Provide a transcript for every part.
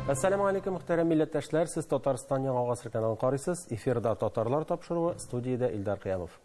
Әссәләму алейкум, мөхтәрәм милләттәшләр. Сез Татарстан яңа гасыр каналын карыйсыз. Эфирда татарлар тапшыруы, студиядә Илдар Кыямов.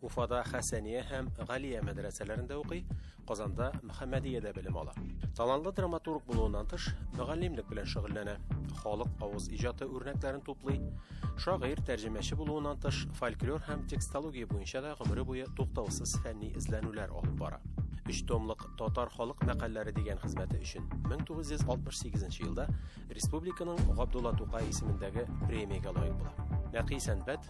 Уфада Хәсәния һәм Галия мәдрәсәләрендә укый, Казанда Мөхәммәдиядә белем ала. Талантлы драматург булуыннан тыш, мөгаллимлек белән шөгыльләнә. Халык авыз иҗаты үрнәкләрен туплый. Шагыйрь, тәрҗемәче булуыннан тыш, фольклор һәм текстология буенча да гомере буе туктаусыз фәнни эзләнүләр алып бара. Өч томлык Татар халык мәкальләре дигән хезмәте өчен 1968 елда республиканың Габдулла Тукай исемендәге премиягә лаек була. Нәкый сәнбәт,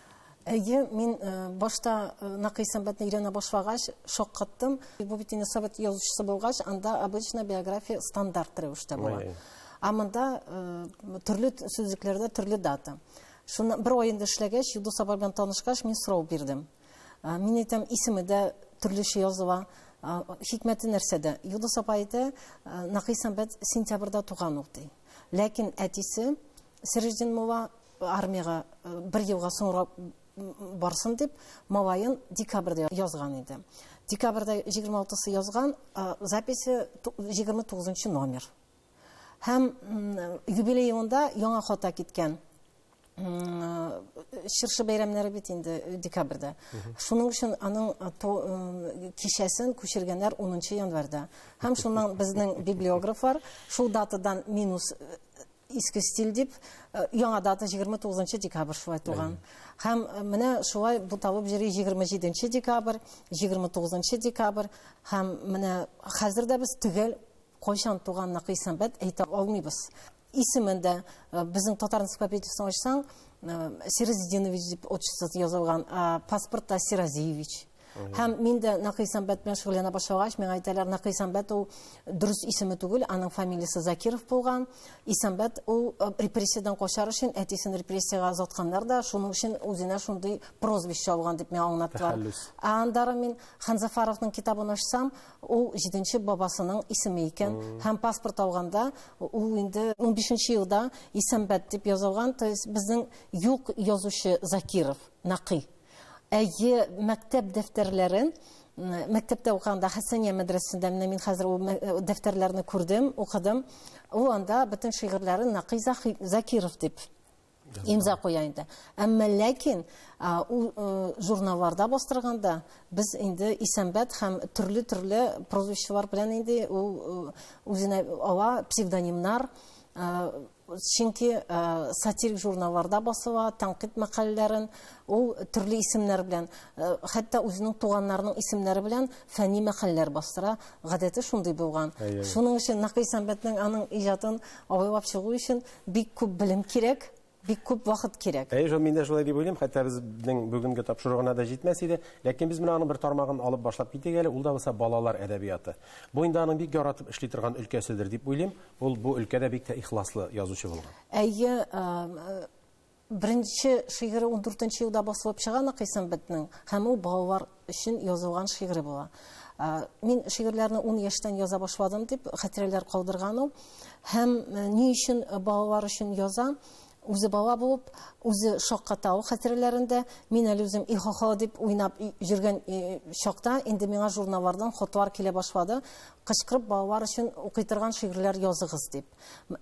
Әйе, мин э, башта э, Накый сәнбәтне өйрәнә башлагач, шаккаттым. Бу бит инде совет язучысы булгач, анда обычно биография стандарт рәвештә була. Ә монда э, төрле сүзлекләрдә төрле дата. Шуны бер ай инде эшләгәч, Юдус апа белән танышкач, мин сорау бирдем. Мин әйтәм, исеме дә төрлечә языла. Хикмәте нәрсәдә? Юдус апа әйтә, Накый сәнбәт сентябрьдә туган ул ди. Ләкин әтисе Сирҗдин Мова армиягә бер елга соңрак барсын дип, малаен декабрьдә язган иде. Декабрьдә 26-сы язган, записи 29 номер. Һәм юбилеенда яңа хата киткән. Чыршы бәйрәмнәре бит инде декабрьдә. Шуның өчен аның кичәсен күчергәннәр 10 январьда. Һәм шуннан безнең библиографлар шул датадан минус иске стиль дип э, яңа дата 29 декабрь шулай туган һәм э, менә шулай буталып йөри 27 декабрь 29 декабрь һәм менә хәзер дә без төгәл кайчан туган накый сәнбәт әйтә алмыйбыз исемен дә э, безнең татар энциклопедиясен ачсаң сиразидинович дип отчествосы язылган паспортта сиразиевич Һәм мин дә Нәкый Сәмбәт белән шөгыльләнә башлагач, миңа әйтәләр, Нәкый Сәмбәт ул дөрес исеме түгел, аның фамилиясе Закиров булган. Исәмбәт ул э, репрессиядән качар өчен әтисен репрессиягә озатканнар да, шуның өчен үзенә шундый прозвище алган дип миңа аңлаттылар. Ә андары мин Ханзафаровның китабын ачсам, ул җиденче бабасының исеме икән. Һәм паспорт алганда ул инде 15 елда Исәмбәт дип язылган, то есть безнең юк язучы Закиров, Нәкый. Әйе, мәктәп дәфтәрләрен мәктәптә укыганда Хәсәния мәдрәсәсендә менә мин хәзер ул э, дәфтәрләрне күрдем, укыдым. Ул анда бөтен шигырьләрен Нақый Закиров дип имза куя инде. Әмма ләкин ул э, журналларда бастырганда без инде Исәнбәт һәм төрле-төрле прозвищелар белән инде ул э, үзенә ала псевдонимнар Чөнки сатирик журналларда басыла, тәнкыйть мәкаләләрен ул төрле исемнәр белән, хәтта үзенең туганнарының исемнәре белән фәнни мәкаләләр бастыра. Гадәте шундый булган. Шуның өчен Накый Сәмбәтнең аның иҗатын абайлап чыгу өчен бик күп белем кирәк, бик күп вакыт кирәк. Әйе, мин дә шулай дип уйлыйм, хәтта безнең бүгенге тапшыру гына да җитмәс иде. Ләкин без менә аның бер тармагын алып башлап китик әле, ул да булса балалар әдәбияты. Бу инде аның бик яратып эшли торган өлкәседер дип уйлыйм. Ул бу өлкәдә бик тә ихласлы язучы булган. Әйе, беренче шигыре 14 елда басылып чыга Накыйсым бетнең, һәм ул балалар өчен язылган шигыре була. Мин шигырьләрне 10 яшьтән яза башладым дип хәтирәләр калдырган ул. Һәм ни өчен балалар өчен яза? Үзе бала булып, үзе шаккатау хәтирәләрендә, мин әле үзем и-хо-хо дип уйнап йөргән чакта, инде миңа журналлардан хатлар килә башлады, кычкырып балалар өчен укый торган шигырьләр языгыз дип.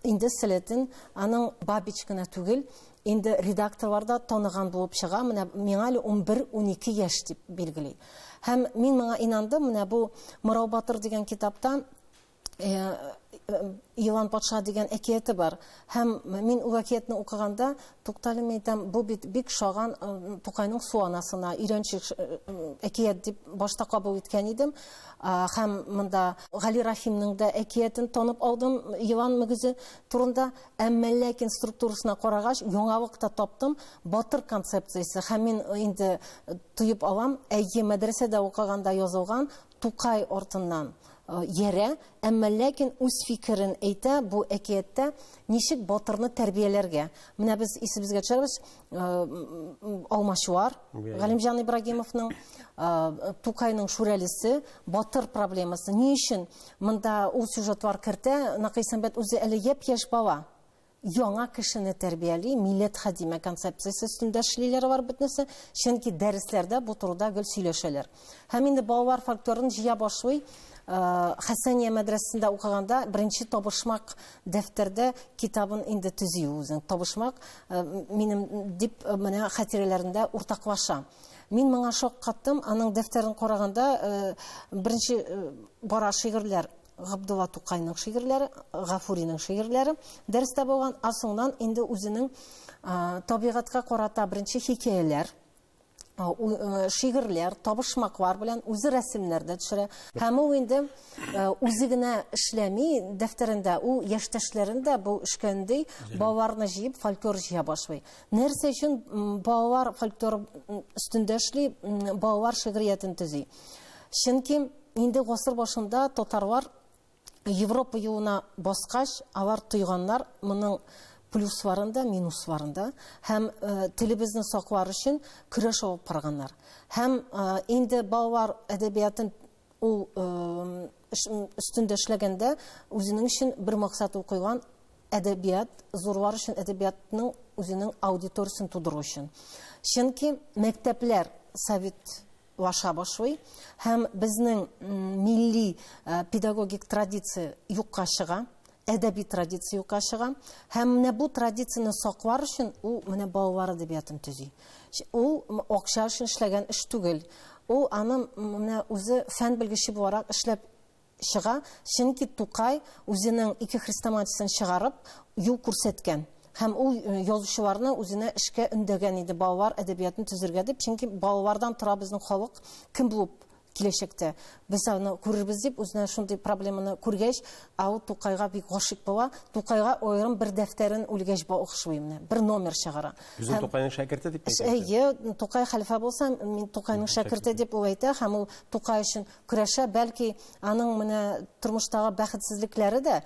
Инде сәләтен аның Бабич кына түгел, инде редакторлар да таныган булып чыга, менә миңа әле унбер-унике яшь дип билгели. Һәм мин моңа инандым, менә бу Морау батыр дигән китапта Елан патша дигән әкияте бар. Һәм мин ул әкиятне укыганда, тукталем әйтәм, бу бит бик шаган Тукайның су анасына өйрәнчек әкият дип башта кабул иткән идем. Һәм монда Гали Рахимның да әкиятен танып алдым, елан мөгезе турында, әмма ләкин структурасына карагач, яңалык та таптым, батыр концепциясе. Һәм мин инде тоеп алам, әйе, мәдрәсәдә укыганда язылган Тукай артыннан йәрә, әмма ләкин үз фикерен әйтә бу әкияттә ничек батырны тәрбияләргә. Менә без исебезгә төшерәбез, Алмачуар, Галимҗан Ибрагимовның, Тукайның Шүрәлесе, батыр проблемасы. Ни өчен монда ул сюжетлар кертә? Накый Сәмбәт үзе әле япь-яшь бала. яңа кешене тәрбияли, милләт хәдиме концепциясе өстендә эшлиләр алар бөтенесе, чөнки дәресләрдә бу турыда гел сөйләшәләр. Һәм инде балалар фольклорын җыя башлый. Э, Хәсәния мәдрәсәсендә укыганда беренче табышмак дәфтәрдә китабын инде төзи үзен. Табышмак э, минем дип э, менә хатирәләрендә уртаклаша. Мин моңа шаккаттым, аның дәфтәрен караганда беренче бара шигырьләр Габдулла Тукайның шигырьләре, Гафуринең шигырьләре дәрестә булган, а соңнан инде үзенең табигатькә карата беренче хикәяләр, шигырьләр, табышмаклар белән үзе рәсемнәр дә төшерә. Һәм ул инде үзе генә эшләми дәфтәрендә, ул яшьтәшләрен дә бу эшкәндәй балаларны җыеп фольклор җыя башлый. Нәрсә өчен балалар фольклор өстендә эшли, балалар шигъриятен төзи? Чөнки Инде гасыр башында татарлар Европа юлына баскач, алар тойганнар моның плюсларын да, минусларын да һәм телебезне саклар өчен көрәш алып барганнар. Һәм инде балалар әдәбиятын ул өстендә эшләгәндә үзенең өчен бер максат ул куйган, әдәбият, зурлар өчен әдәбиятның үзенең аудиториясен тудыру өчен. Чөнки мәктәпләр совет лаша башлый һәм безнең милли педагогик традиция юкка чыга, әдәби традиция юкка чыга һәм менә бу традицияне саклар өчен ул менә балалар әдәбиятын төзи. Ул акча өчен эшләгән эш түгел. Ул аны менә үзе фән белгече буларак эшләп чыга, чөнки Тукай үзенең ике хрестоматиясен чыгарып, юл күрсәткән һәм ул язучыларны үзенә эшкә өндәгән иде, балалар әдәбиятын төзергә дип, чөнки балалардан тора безнең халык кем булып киләчәктә. Без аны күрербез дип, үзенә шундый проблеманы күргәч, ә ул Тукайга бик гашыйк була, Тукайга аерым бер дәфтәрен үлгәч багышлый менә, бер номер чыгара. Үзен Тукайның шәкерте дип әйтә. Әйе, Тукай хәлфә булса, мин Тукайның шәкерте дип ул әйтә һәм ул Тукай өчен көрәшә, бәлки аның менә тормыштагы бәхетсезлекләре дә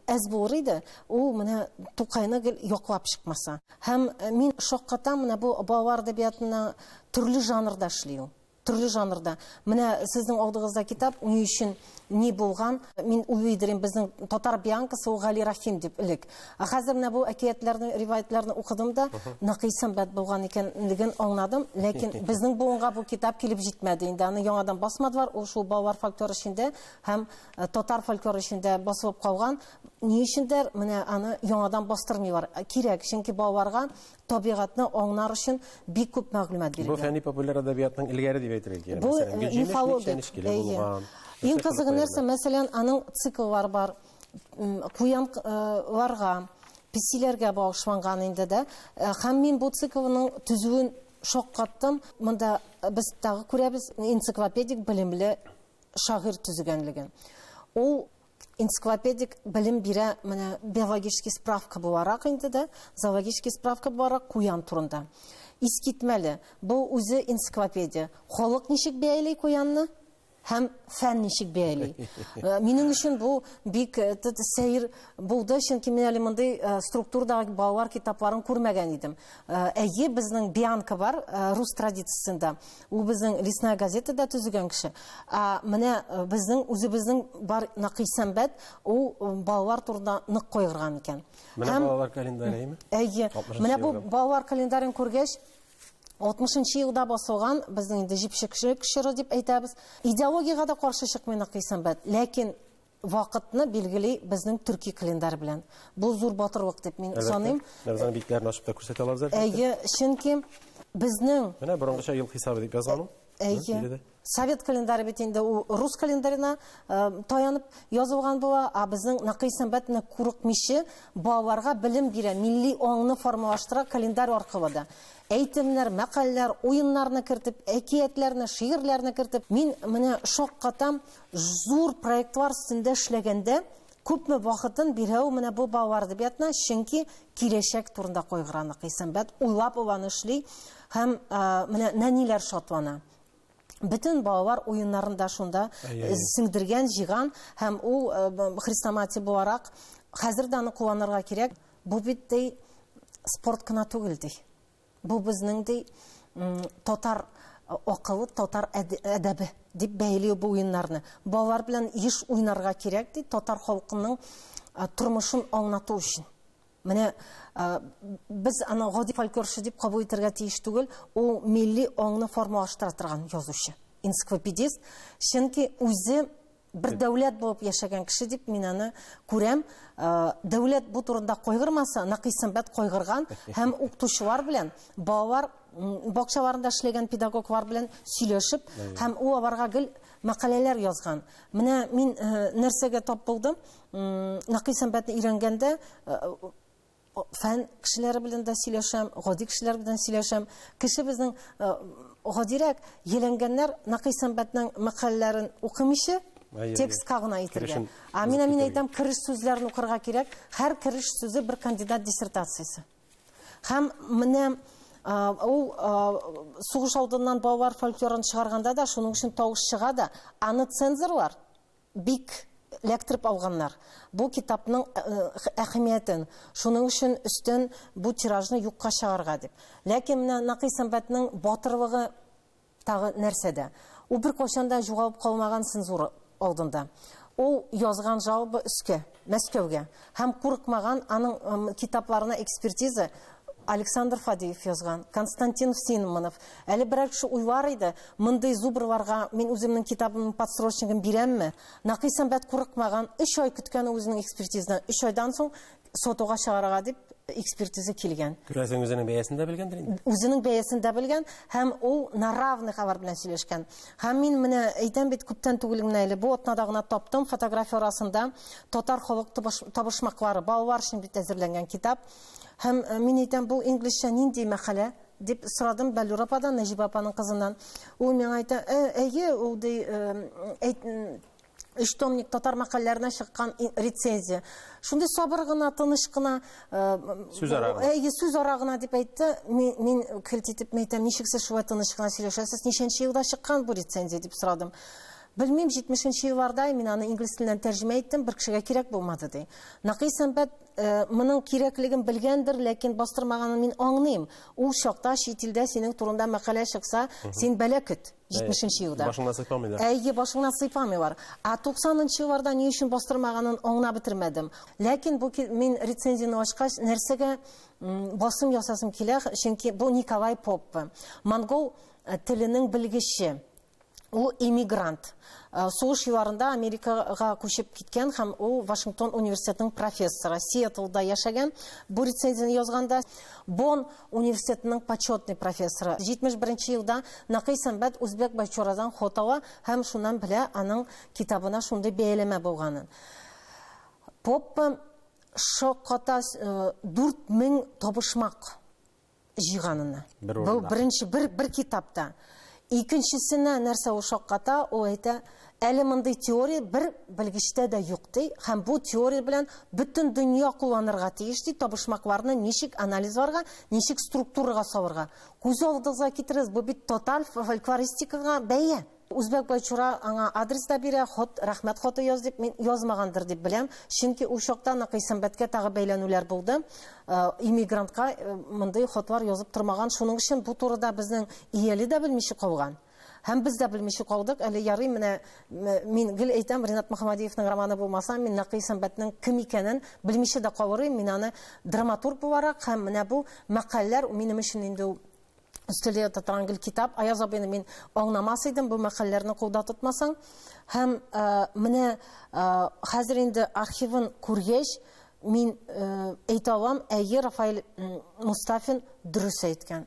әз булыр иде, ул менә Тукайны гел яклап чыкмаса. Һәм э, мин шаккатам менә бу балалар әдәбиятына төрле жанрда эшли ул төрле жанрда. Менә сезнең алдыгызда китап ни өчен ни булган? Мин уйлый идем, безнең татар бианкасы ул Гали Рахим дип элек. Ә хәзер менә бу әкиятләрне, риваятларны укыдым да, нәкый сәнбәт булган икәнлеген аңладым. Ләкин безнең буынга бу китап килеп җитмәде инде. Аны яңадан басмадылар. Ул шул балалар фольклоры эчендә һәм э, татар фольклоры эчендә басылып калган. Ни өчендер менә аны яңадан бастырмыйлар. Э, кирәк, чөнки балаларга табигатьне аңнар өчен бик күп мәгълүмат бирелгән. Бу фәнни популяр әдәбиятның илгәре дип әйтергә кирәк. Бу э, мифологик. Иң кызыгы нәрсә, мәсәлән, аның цикллары бар. куянларга, песиләргә багышланган инде дә. Һәм мин бу циклның төзүен шаккаттым. Монда без тагы күрәбез энциклопедик белемле шагыйрь төзегәнлеген. Ул энциклопедик белем бирә менә биологический справка буларак инде дә, зоологический справка буларак куян турында. Искитмәле, бу үзе энциклопедия. Халык ничек бәяли куянны? һәм фән ничек бәяли. Э, минем өчен бу бик э, сәер булды, чөнки мин әле мондый э, структурдагы балалар китапларын күрмәгән идем. Әйе, безнең Бианка бар рус традициясендә. Ул безнең Лесная газетада төзегән кеше. Ә менә безнең үзебезнең бар Накый Сәмбәт, ул балалар турында нык кайгырган икән. Менә балалар календарьеме? Әйе. Менә бу балалар календарен күргәч, 60 нчы елда басылган, безнең инде җепшекчелек чоры дип әйтәбез. Идеологиягә дә каршы чыкмыйнык дисәм бит, ләкин вакытны билгели безнең төрки календарь белән. Бу зур батырлык дип мин саныйм. Бердән битләрен ачып та күрсәтә алабыз әлбәттә. Әйе, чөнки безнең Менә борынгыча ел хисабы дип язган ул. Әйе. Совет календаре бит инде ул рус календарена таянып язылган була, а безнең Накый сәнбәтне курыкмыйча балаларга белем бирә, милли аңны формалаштыра календарь аркылы да. Әйтемнәр, мәкальләр, уеннарны кертеп, әкиятләрне, шигырьләрне кертеп, мин менә шаккатам, зур проектлар өстендә эшләгәндә күпме вакытын бирә ул менә бу балалар әдәбиятына, чөнки киләчәк турында кайгыра Накый сәнбәт, уйлап аланы эшли һәм менә нәниләр шатлана. бөтен балалар уеннарын да шунда э, сеңдергән, җыйган һәм ул э, хрестоматия буларак хәзер дә аны кулланырга кирәк. Бу бит ди спорт кына түгел ди. Бу безнең ди татар э, акылы, татар әдәбе дип бәйләү бу уеннарны. Балалар белән еш уйнарга кирәк ди татар халкының тормышын аңлату өчен. Менә без аны гади фольклорчы дип кабул итәргә тиеш түгел, ул милли аңны формалаштыра торган язучы, энциклопедист. Чөнки үзе бер дәүләт булып яшәгән кеше дип мин аны күрәм. Дәүләт бу турында кайгырмаса, Накый Сәмбәт кайгырган һәм укытучылар белән балалар бакчаларында эшләгән педагоглар белән сөйләшеп һәм ул аларга гел мәкаләләр язган. Менә мин нәрсәгә тап булдым? Нәкый сәнбәтне өйрәнгәндә фән кешеләре белән дә сөйләшәм, гади кешеләр белән сөйләшәм. Кеше безнең гадирәк еләнгәннәр Нәкый сәнбәтнең мәкаләләрен укымыйча, текстка гына итергә. Ә мин мин әйтәм, кереш сүзләрен укырга кирәк. Һәр кереш сүзе бер кандидат диссертациясе. Һәм менә ул сугыш алдыннан балалар фольклорын чыгарганда да шуның өчен тавыш чыга да, аны цензорлар Бик ләктереп алганнар бу китапның әхәмиятен, шуның өчен өстен бу тиражны юкка чыгарырга дип. Ләкин менә Накый Сәмбәтнең батырлыгы тагы нәрсәдә? Ул беркайчан да җугалып калмаган цензура алдында. Ул язган жалоба өскә. Мәскәүгә. Һәм курыкмаган, аның китапларына экспертиза Александр Фадеев язган, Константин Синманов. Әле берәр кеше уйлар иде, мондый зубрларга мин үземнең китабымның подсрочнигын бирәмме? Накый Сәмбәт курыкмаган, өч ай көткән ул үзенең экспертизадан. Өч айдан соң сатуга чыгарырга дип экспертиза килгән. Күрәсең, үзенең бәясен дә белгәндер инде? Үзенең бәясен дә белгән һәм ул на равных алар белән сөйләшкән. Һәм мин менә әйтәм бит, күптән түгел генә әле, бу атнада гына таптым, фотография арасында татар халык табышмаклары, балалар өчен бит әзерләнгән китап. Һәм э, мин әйтәм, бу инглизчә нинди мәкалә? дип сорадым Бәллүр ападан, Нәҗибә апаның кызыннан. Ул миңа әйтә, «Э, әйе, ул ди, э, Өч томник татар мәкальләренә чыккан рецензия. Шундый сабыр гына, тыныч кына, сүз ара гына. Әйе, сүз ара гына дип әйтте. Мин, мин көлт итеп әйтәм, ничек сез шулай тыныч кына сөйләшәсез? Ничәнче елда чыккан бу рецензия дип сорадым. Белмим, 70-нче елларда мин аны инглиз теленнән тәрҗемә иттем, бер кешегә кирәк булмады ди. Накый сәнбәт э, моның кирәклеген белгәндер, ләкин бастырмаганын мин аңлыйм. Ул чакта чит илдә синең турында мәкалә чыкса, син бәла көт. 70-нче елда. Башыңнан сыйпамыйлар. Әйе, башыңнан сыйпамыйлар. Ә 90-нчы елларда ни өчен бастырмаганын аңлап бетермәдем. Ләкин бу мин рецензияне ачкач, нәрсәгә басым ясасым килә, чөнки бу Николай Поппе, монгол э, теленең белгече. Ул эмигрант. Э, сугыш елларында Америкага күчеп киткән һәм ул Вашингтон университетының профессоры. Сиэтлда яшәгән. Бу рецензияне язганда Бон университетының почетный профессоры. 71 нче елда Накый Сәмбәт Үзбәк Байчорадан хот ала һәм шуннан белә аның китабына шундый бәяләмә булганын. Поппа шакката 4000 табышмак җыйганыны. Бер урында. Бу беренче бер бер китапта. Икенчесенә нәрсә ул шакката, ул әйтә, әле мондый теория бер белгечтә дә юк, ди, һәм бу теория белән бөтен дөнья кулланырга тиеш, ди, табышмакларны ничек анализларга, ничек структурага салырга. Күз алдыгызга китерегез, бу бит тоталь фольклористикага бәя! Үзбәк байчура аңа адрес та бирә, хат, рәхмәт хаты яз дип, мин язмагандыр дип беләм, чөнки ул чакта ныкый сәнбәткә тагы бәйләнүләр булды, иммигрантка мондый хатлар язып тормаган, шуның өчен бу турыда безнең Ияле дә белмичә калган. Һәм без дә белмичә калдык. Әле ярый менә мин гел әйтәм, Ренат Мөхәммәдиевның романы булмаса, мин Нәкый Сәмбәтнең кем икәнен белмичә дә калыр идем. Мин аны драматург буларак һәм менә бу мәкальләр минем өчен инде ул өстәлдә ята торган гел китап. Аяз абыйны мин аңламас идем бу мәкальләрне кулда тотмасаң. Һәм э, менә э, хәзер инде архивын күргәч, мин э, әйтә алам, әйе, Рафаэль Мустафин дөрес әйткән.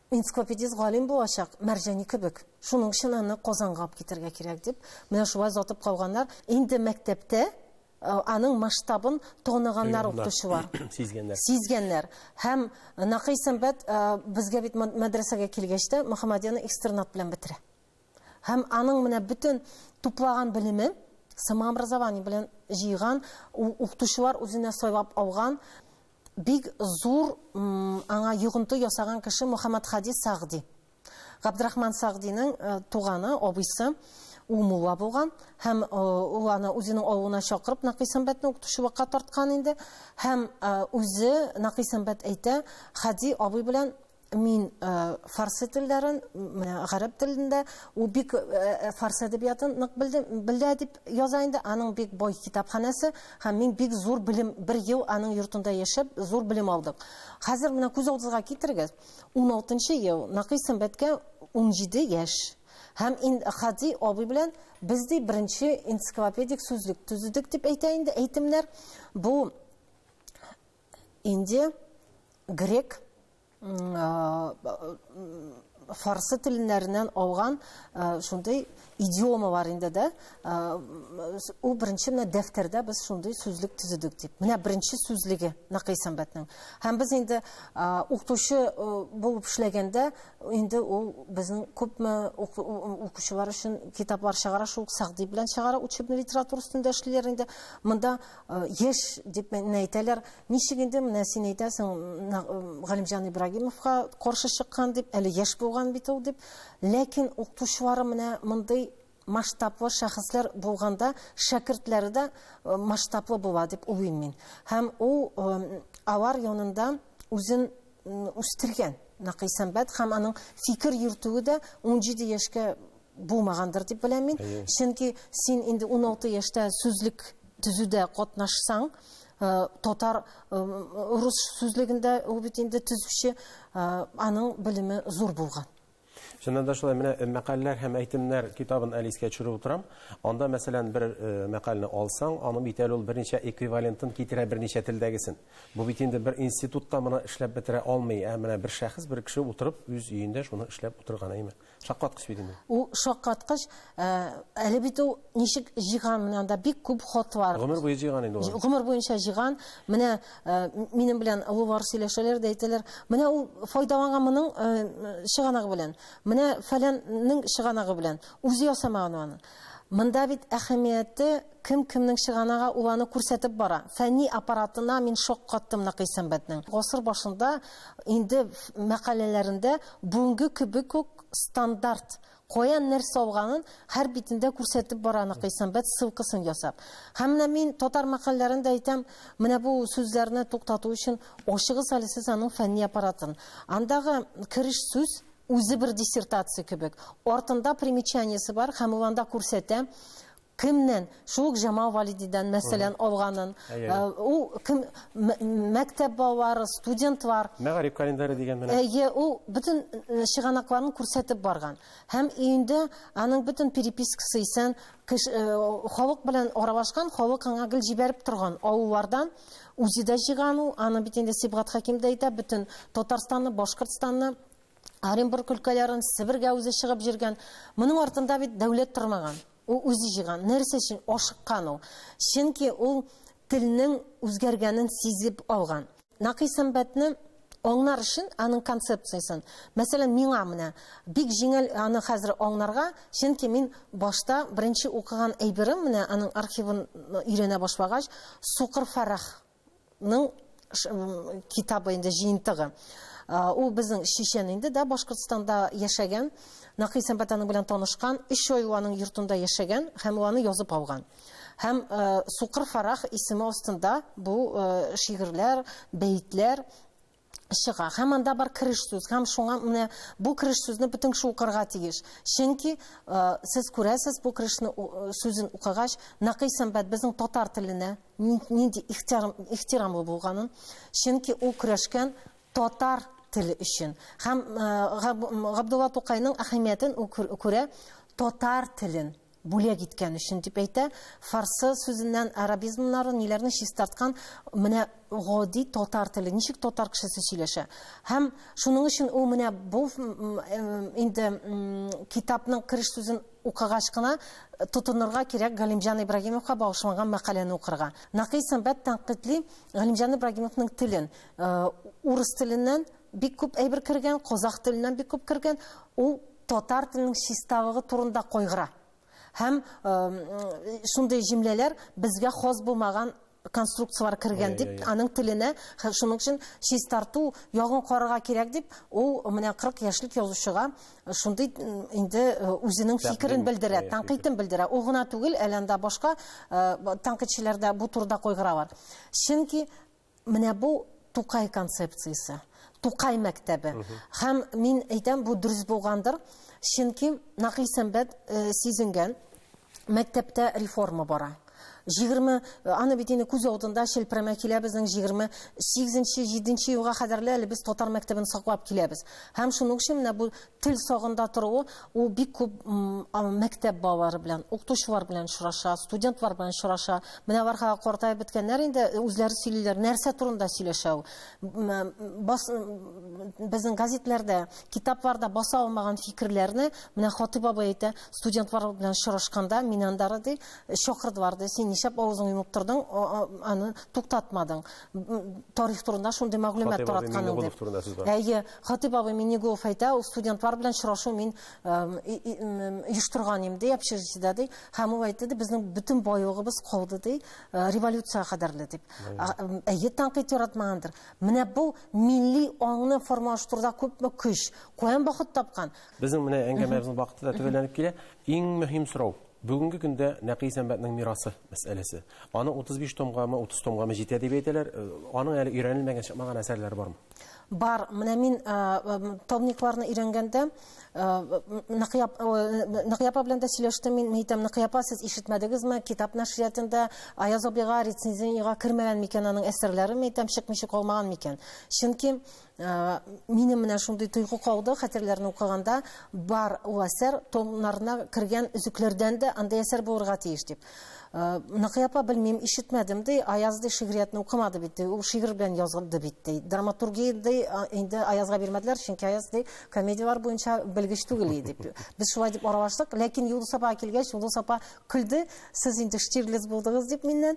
Энциклопедист галим булачак, Мәрҗани кебек. Шуның өчен аны Казанга алып китәргә кирәк, дип, менә шулай озатып калганнар. Инде мәктәптә аның масштабын тоныганнар укытучылар сизгәннәр сизгәннәр һәм Накый Сәмбәт безгә бит мәдрәсәгә килгәч тә Мөхәммәдияны экстернат белән бетерә һәм аның менә бөтен туплаган белеме самообразование белән җыйган укытучылар үзенә сайлап алган Бик зур аңа йогынты ясаган кеше Мөхәммәтһади Сәгъди. Габдрахман Сәгъдинең туганы, абыйсы ул мулла булган һәм ул аны үзенең авылына чакырып Накый Сәмбәтне укытучылыкка тарткан инде һәм үзе Накый Сәмбәт әйтә, Хади абый белән мин э, фарсы телләрен, гарәп телендә, ул бик э, э, фарс әдәбиятын нык белә дип яза инде. Аның бик бай китапханәсе һәм мин бик зур белем, бер ел аның йортында яшәп, зур белем алдык. Хәзер менә күз алдыгызга китерегез, 16 ел, Накый Сәмбәткә 17 яшь. Һәм ин Хади абый белән без ди беренче энциклопедик сүзлек төзедек дип әйтә инде әйтемнәр. Бу Инде грек, фарсы теленнәреннән алган шундый идиома бар инде дә. Ул беренче менә дәфтәрдә без шундый сүзлек төзедек дип. Менә беренче сүзлеге Накый Сәмбәтнең. Һәм без инде укытучы булып эшләгәндә инде ул безнең күпме укучылар өчен китаплар чыгара, шул Сәгъди белән чыгара, учебный литература өстендә эшлиләр инде. Монда Яшь дип менә әйтәләр. Ничек инде менә син әйтәсең, Галимҗан Ибрагимовка каршы чыккан дип, әле яшь булган бит ул дип. Ләкин укытучылары менә мондый масштаблы шәхесләр булганда, шәкертләре дә масштаблы була дип уйлыйм мин. Һәм ул алар янында үзен үстергән Накый Сәмбәт һәм аның фикер йөртүе дә 17 яшькә булмагандыр дип беләм мин. Чөнки син инде 16 яшьтә сүзлек төзүдә катнашсаң, э, татар э, рус сүзлегендә ул бит инде төзүче, э, аның белеме зур булган. Чыннан да шулай, менә мәкаләләр һәм әйтемнәр китабын әле искә төшереп утырам. Анда, мәсәлән, бер мәкаләне алсаң, аның бит әле ул берничә эквивалентын китерә берничә телдәгесен. Бу бит инде бер институтта моны эшләп бетерә алмый, ә менә бер шәхес, бер кеше утырып, үз өендә шуны эшләп утырган әйме. Шаккаткыч бит инде. Ул шаккаткыч. Әле бит ул ничек җыйган, менә анда бик күп хатлар. Гомер буе җыйган инде ул. Гомер буенча җыйган. Менә Э, минем белән олылар сөйләшәләр дә әйтәләр менә ул файдаланган моның э, чыганагы белән менә фәләннең чыганагы белән үзе ясамаган аны мында бит әһәмияте кем кемнең чыганага ул аны күрсәтеп бара фәнни аппаратына мин шок каттым нәкый сәнбәтнең гасыр башында инде мәкаләләрендә бүгенге кебек үк стандарт Каян нәрсә алганын һәр битендә күрсәтеп бара Ныкый Сәмбәт ссылкасын ясап. Һәм менә мин татар мәкальләрен дә әйтәм, менә бу сүзләрне туктату өчен ачыгыз әле сез аның фәнни аппаратын. Андагы кереш сүз үзе бер диссертация кебек. Артында примечаниесе бар һәм ул анда күрсәтә, Кемнән? Шул ук Җамал Валидидан, мәсәлән, алганын. Ул кем? Мәктәп балалары, студентлар. Мәгариф календаре дигән менә. Әйе, ул бөтен чыганакларын күрсәтеп барган. Һәм өендә аның бөтен перепискасы исән, халык белән аралашкан, халык аңа гел җибәреп торган авыллардан үзе дә җыйган ул. Аны бит инде Сибгат Хәким дә әйтә, бөтен Татарстанны, Башкортстанны, Оренбург өлкәләрен, Себергә үзе чыгып җиргән. Моның артында бит дәүләт тормаган. Ул үзе җыйган. Нәрсә өчен ашыккан ул? Чөнки ул телнең үзгәргәнен сизеп алган. Накый сәнбәтне аңнар өчен аның концепциясен, мәсәлән, миңа менә бик җиңел аны хәзер аңнарга, чөнки мин башта беренче укыган әйберем, менә аның архивын өйрәнә башлагач, Сукыр Фәрах ның китабы инде җыентыгы. Ул безнең чичен инде дә Башкортстанда яшәгән, Накый Сәмбәт аның белән танышкан, өч ай ул аның йортында яшәгән һәм ул аны язып алган. Һәм Сукыр Фарах исеме астында бу шигырьләр, бәетләр чыга. Һәм анда бар кереш сүз. Һәм шуңа менә бу кереш сүзне бөтен кеше укырга тиеш. Чөнки сез күрәсез, бу керешне сүзен укыгач, нәкый сәнбәт безнең татар теленә нинди ихтирамлы булганын. Чөнки ул көрәшкән татар теле өчен. Һәм Габдулла Тукайның әһәмиятен күрә татар телен Бүләк иткән өчен дип әйтә. Фарсы сүзеннән арабизмнары ниләрне чистарткан, менә гади татар теле, ничек татар кешесе сөйләшә. Һәм шуның өчен ул менә бу инде китапның кереш сүзен укыгач кына тотынырга кирәк Галимҗан Ибрагимовка багышланган мәкаләне укырга. Нәкый сәнбәт тәнкыйтьли Галимҗан Ибрагимовның телен. Урыс теленнән бик күп әйбер кергән, казах теленнән бик күп кергән. Ул татар телінің чисталыгы турында кайгыра һәм шундый җөмләләр безгә хас булмаган конструкциялар кергән дип аның теленә шуның өчен чистарту ягын карарга кирәк дип ул менә 40 яшьлек язучыга шундый инде үзенең фикерен белдерә тәнкыйтен белдерә ул гына түгел әле анда башка тәнкыйтьчеләрдә бу турыда кайгыра бар чөнки Менә бу Тукай концепциясе, Тукай мәктәбе. Һәм мин әйтәм, бу дөрес булгандыр, чөнки Нәкый Сәмбәт э, сизенгән мәктәптә реформа бара. 20 э, аны бит инде күз алдында челпрәмә килә безнең 28-7 елга кадәрле әле без татар мәктәбен саклап киләбез. Һәм шуның өчен менә бу Тел сагында торуы, ул бик күп мәктәп балалары белән, укытучылар белән очраша, студентлар белән очраша. Менә бархага картаеп беткәннәр инде, үзләре сөйлиләр, нәрсә турында сөйләшә ул? Бас, безнең газетләрдә, китапларда баса алмаган фикерләрне, менә Хатыйп абый әйтә, студентлар белән очрашканда, мин андары ди, чакырдылар ди, син нишләп авызыңны йомып тордың, аны туктатмадың? тарих турында шундый мәгълүмат таратканың дип. Әйе, Хатип абый Минигулов әйтә, ул студентлар белән очрашу мин оештырган идем, ди, общежитиедә ди. Һәм ул әйтте, ди, безнең бөтен байлыгыбыз калды, ди, э, революция кадәрле дип. Әйе, тәнкыйть яратмагандыр. Менә бу милли аңны формалаштыруда күпме көч, каян бахыт тапкан? Безнең менә әңгәмәбезнең вакыты да төгәлләнеп килә. Иң мөһим сорау, Бүгенге көндә Нәкый Сәмбәтнең мирасы мәсьәләсе. Аның 35 томгамы, 30 томгамы җитә дип әйтәләр. Э, аның әле өйрәнелмәгән, чыкмаган әсәрләре бармы? Бар. Менә мин э, томникларны өйрәнгәндә э, Нәкыяпа белән дә сөйләштем мин. Мин әйтәм, Нәкыяпа, сез ишетмәдегезме? Китап нәшриятында Аяз абыйга рецензиягә кермәгән микән аның әсәрләре? Мин әйтәм, чыкмыйча калмаган микән? Чөнки Э, мине менә шундый тойгы кауды хәтерләрне укыганда бар ул әсәр томнарына кергән өзекләрдән дә андай әсәр булырга тиеш дип э, Ныкый апа белмим ишетмәдем ди Аяз ди шигъриятне укымады бит ул шигырь белән язылды бит ди драматургия ди инде Аязга бирмәделәр чөнки Аяз ди комедияләр буенча белгеч түгел иде дип без шулай дип аралаштык ләкин Юлдыз апа килгәч Юлдыз апа көлде сез инде Штирлиц булдыгыз дип миннән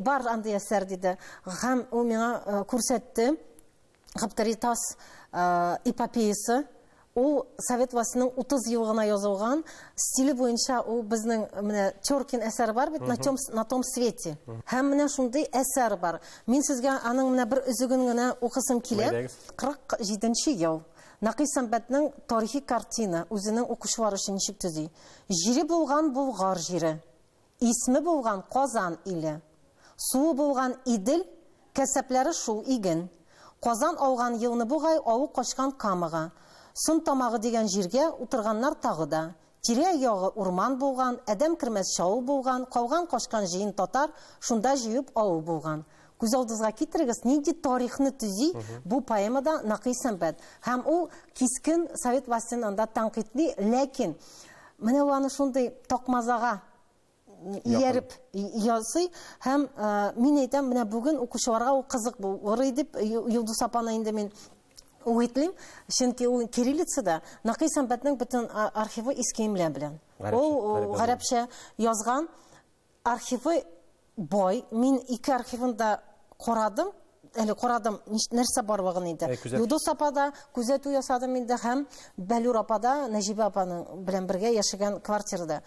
бар андый әсәр диде һәм ул миңа э, күрсәтте Габдаритас эпопеясы ул совет властының 30 ел гына язылган стиле буенча ул безнең менә Теркин әсәр бар бит на том на том свете һәм менә шундый әсәр бар мин сезгә аның менә бер өзеген генә укысым килә 47 ел Нәкый Сәмбәтнең тарихи картина үзенең укучылары өчен ничек төзи? Җире булган Болгар җире. Исме булган Казан иле. Суы булган Идел, кәсәпләре шул иген. Казан ауган елны бугай ауы качкан Камага, Сон тамагы дигән җиргә утырганнар тагы да. Тирә ягы урман булган, адәм кермәс чаул булган, калган качкан җыен татар шунда җыеп ауы булган. Күз алдызга китерегез, нинди тарихны төзи бу поэмада Накый Сәмбәт. Һәм ул кискен совет властен анда тәнкыйтьли, ләкин менә ул аны шундый такмазага ияреп ясый һәм э, мин әйтәм менә бүген укучыларга ул кызык булыр иде э, Юлдус апаны инде мин үгетлим чөнки ул кириллицада Накый Сәмбәтнең бөтен архивы искиемләр белән ул гарәпчә язган Архивы бай, мин ике архивын да карадым, әле карадым, нәрсә барлыгын инде. Ә, Юдос апада күзәтү ясадым инде һәм Бәлүр апада, Нәҗибә апаның белән бергә яшәгән квартирада.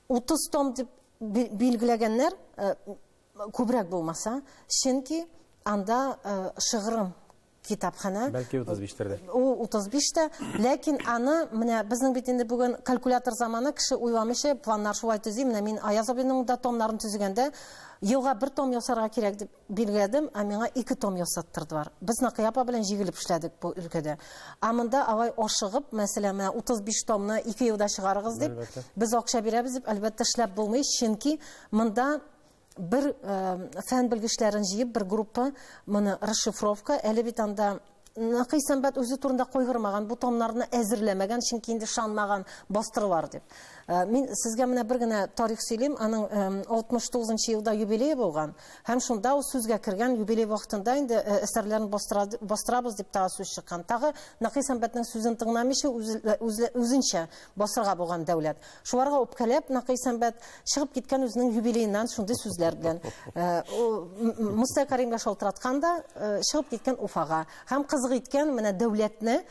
30 том дип билгеләгәннәр, э, күбрәк булмаса, чөнки анда э, шыгрым китапханә. Бәлки 35 тә. Ул 35 тә, ләкин аны менә безнең бит инде бүген калькулятор заманы, кеше уйламыйча планнар шулай төзи. Менә мин Аяз абыйның да томнарын төзегәндә елга бер том ясарга кирәк дип билгеләдем, ә миңа ике том ясаттырдылар. Без Накыя апа белән җигелеп эшләдек бу өлкәдә. Ә монда алай ашыгып, мәсәлән, менә 35 томны ике елда чыгарыгыз дип, без акча бирәбез дип, әлбәттә, эшләп булмый, чөнки монда бер фән белгечләрен җыеп бер группа моны расшифровка әле бит анда Нәкый сәнбәт үзе турында кайгырмаган, бу томнарны әзерләмәгән, чөнки инде шанмаган бастырылар дип. Э, мин сезгә менә бер генә тарих сөйлим, аның 69 э, нчы елда юбилее булган, һәм шунда ул сүзгә кергән юбилей вакытында инде э, әсәрләрен бастырабыз дип тагы сүз чыккан. Тагы Нәкый сәнбәтнең сүзен тыңламыйча үзенчә басырга булган дәүләт. Шуларга үпкәләп, Накый Сәмбәт чыгып киткән үзенең юбилееннан шундый сүзләр белән. Э, Мустай Каримгә шалтыраткан да, э, чыгып киткән Уфага. Һәм кызык иткән менә дәүләтне,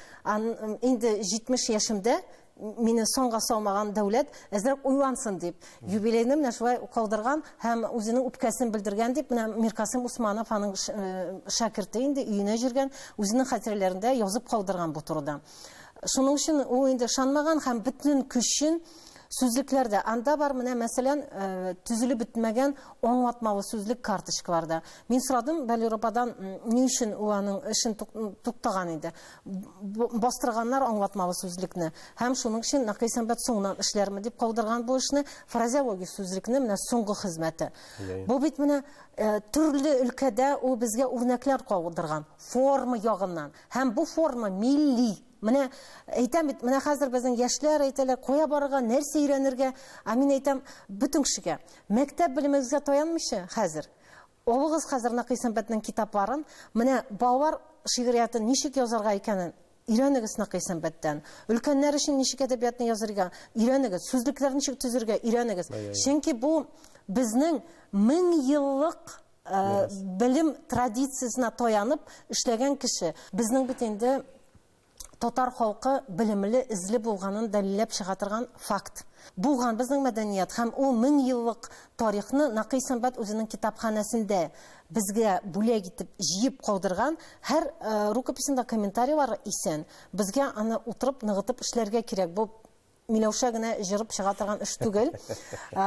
инде 70 яшемдә мине соңга салмаган дәүләт әзрәк уйлансын дип, юбилейны менә шулай калдырган һәм үзенең үпкәсен белдергән дип, менә Миркасым Усманов аның э, шәкерте инде өенә җиргән, үзенең хатирәләрендә язып калдырган бу турыда. Шуның өчен ул инде ышанмаган һәм бөтен көчен сүзлекләрдә анда бар менә мәсәлән э, төзелеп бетмәгән аңлатмалы сүзлек карточкаларда мин сорадым балюр ападан ни өчен ул аның эшен туктаган иде бастырганнар аңлатмалы сүзлекне һәм шуның өчен нәкый сәнбәт соңыннан эшләрме дип калдырган бу эшне фразеологик сүзлекне менә соңгы хезмәте бу бит менә э, төрле өлкәдә ул безгә үрнәкләр калдырган форма ягыннан Һәм бу форма милли. Менә әйтәм бит, менә хәзер безнең яшьләр әйтәләр, кая барырга, нәрсә өйрәнергә? Ә мин әйтәм, бөтен кешегә, мәктәп белемегезгә таянмыйча хәзер, алыгыз хәзер Накый Сәнбәтнең китапларын, менә балалар шигъриятен ничек язарга икәнен өйрәнегез Накый Сәнбәттән. Өлкәннәр өчен ничек әдәбиятны язырга өйрәнегез, сүзлекләрне ничек төзергә өйрәнегез. Чөнки бу безнең мең еллык Э, белем традициясенә таянып эшләгән кеше безнең бит инде татар халкы белемле эзле булганын дәлилләп чыга торган факт булган безнең мәдәният һәм ул мең еллык тарихны нәкый сәнбәт үзенең китапханәсендә безгә бүләк итеп җыеп калдырган һәр э, рукописендә комментарийлар исән безгә аны утырып ныгытып эшләргә кирәк бу Миләүшә генә җырып чыга торган эш түгел.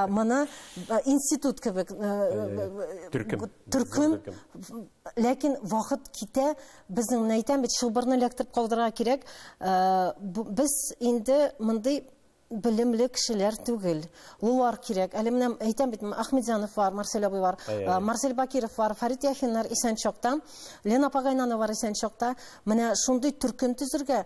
Моны институт кебек төркем. Төркем. Ләкин вакыт китә, безнең менә әйтәм бит, чылбырны эләктереп калдырырга кирәк. Без инде мондый белемле кешеләр түгел. Луар кирәк. Әле менә әйтәм бит, Ахмедзянов бар, Марсель абый бар, Марсель Бакиров бар, Фарит Яхиннар исән чакта, Лена Пагайнанова бар исән чакта. Менә шундый төркем төзергә,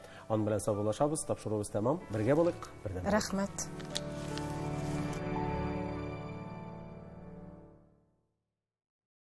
Ан белән саубуллашабыз, тапшыруыбыз тәмам. Бергә булыйк, бердәм. Рәхмәт.